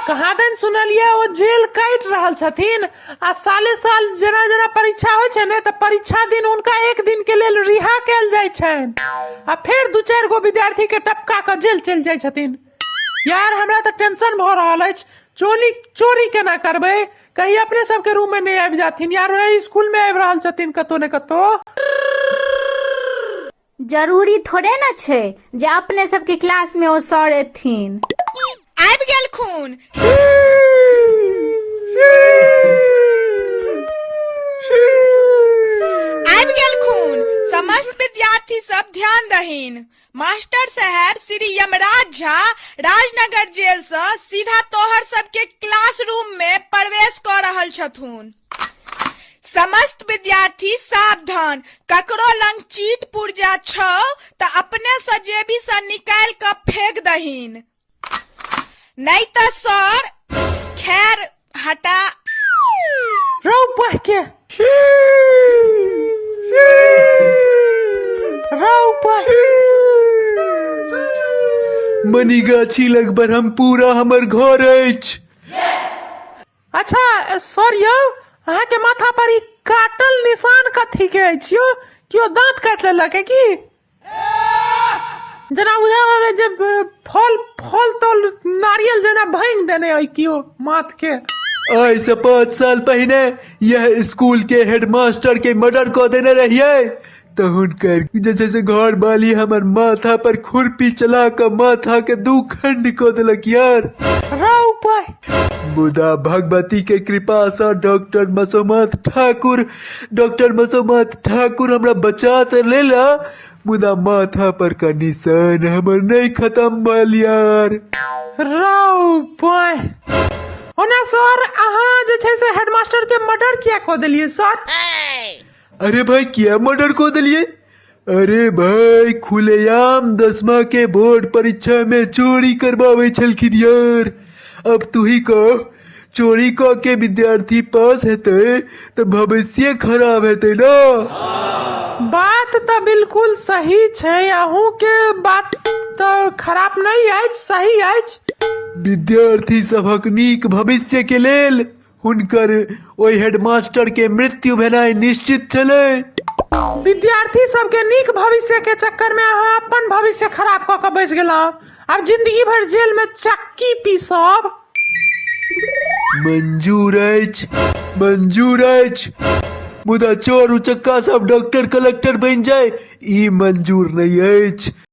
कहाँ दिन सुनलियै ओ जेल काटि रहल छथिन आ साले साल जेना जेना परीक्षा होइ छै ने तऽ परीक्षा दिन हुनका एक दिन के लेल रिहा कयल जाइ छनि आ फेर दू चारि गो विद्यार्थी के टपका कऽ जेल चलि जाइ छथिन यार हमरा तऽ टेंशन भऽ रहल अछि चोरी चोरी केना करबै कहीं अपने सबके रूम में नहि आबि जाथिन यार ओहि स्कूल में आबि रहल छथिन कतौ ने कतौ जरूरी थोड़े ने छै जे अपने सबके क्लास में ओ सर एथिन आबि गेलखुन आबि गेलखुन समस्त विद्यार्थी सब ध्यान दहीन मास्टर साहब श्री यमराज झा राजनगर जेल से सीधा तोहर सबके क्लासरूम में प्रवेश कऽ रहल छथुन समस्त विद्यार्थी सावधान ककरो लंग चीट पुर्जा छौ तऽ अपने सँ जेबी सँ निकालि कऽ फेंक दहीन नहि तऽ सर खैर हटा रौ पढ़ के रौ पढ़ मनीगाछी लग ब्रह्मपुरा हमर घर अछि अच्छा ए, सर यौ अहाँके माथा पर ई काटल निशान कथी के अछि यौ केओ दांत काट लेलक है की जेना बुझा रहल है जे अ, फल फल तल नारियल जेना भांग देने है केओ माथ के आइ से पाँच साल पहिने यह स्कूल के हेडमास्टर के मर्डर कऽ देने रहियै तऽ हुनकर जे छै से घर वाली हमर माथा पर खुरपी चला कऽ माथा के दू खंड कऽ देलक यार राव पाय मुदा भगवती के कृपा से डॉक्टर मसोमत ठाकुर डॉक्टर मसोमत ठाकुर हमरा बचा तऽ लेला मुदा माथा पर का निशान हमर नहीं खत्म भल यार राव पाय ओना सर अहाँ जे छै से हेडमास्टर के मर्डर किया कऽ देलियै सर अरे भाई किया मर्डर को दिलिए अरे भाई खुलेआम दसमा के बोर्ड परीक्षा में चोरी करवावे छलखिन यार अब तू ही कह चोरी क के विद्यार्थी पास हेते तो भविष्य खराब हेते ना बात तऽ बिल्कुल सही छै अहूँ के बात तऽ खराब नहि अछि सही अछि विद्यार्थी सभक नीक भविष्य के लेल हुनकर ओहि हेडमास्टर के मृत्यु भेनाइ निश्चित छलै विद्यार्थी सबके नीक भविष्य के चक्कर में अहाँ अपन भविष्य खराब कऽ के बैस गेलहुँ आब जिंदगी भर जेल में चक्की पीसब मंजूर अछि मंजूर अछि मुदा चोर उचक्का सब डॉक्टर कलेक्टर बनि जाय ई मंजूर नहि अछि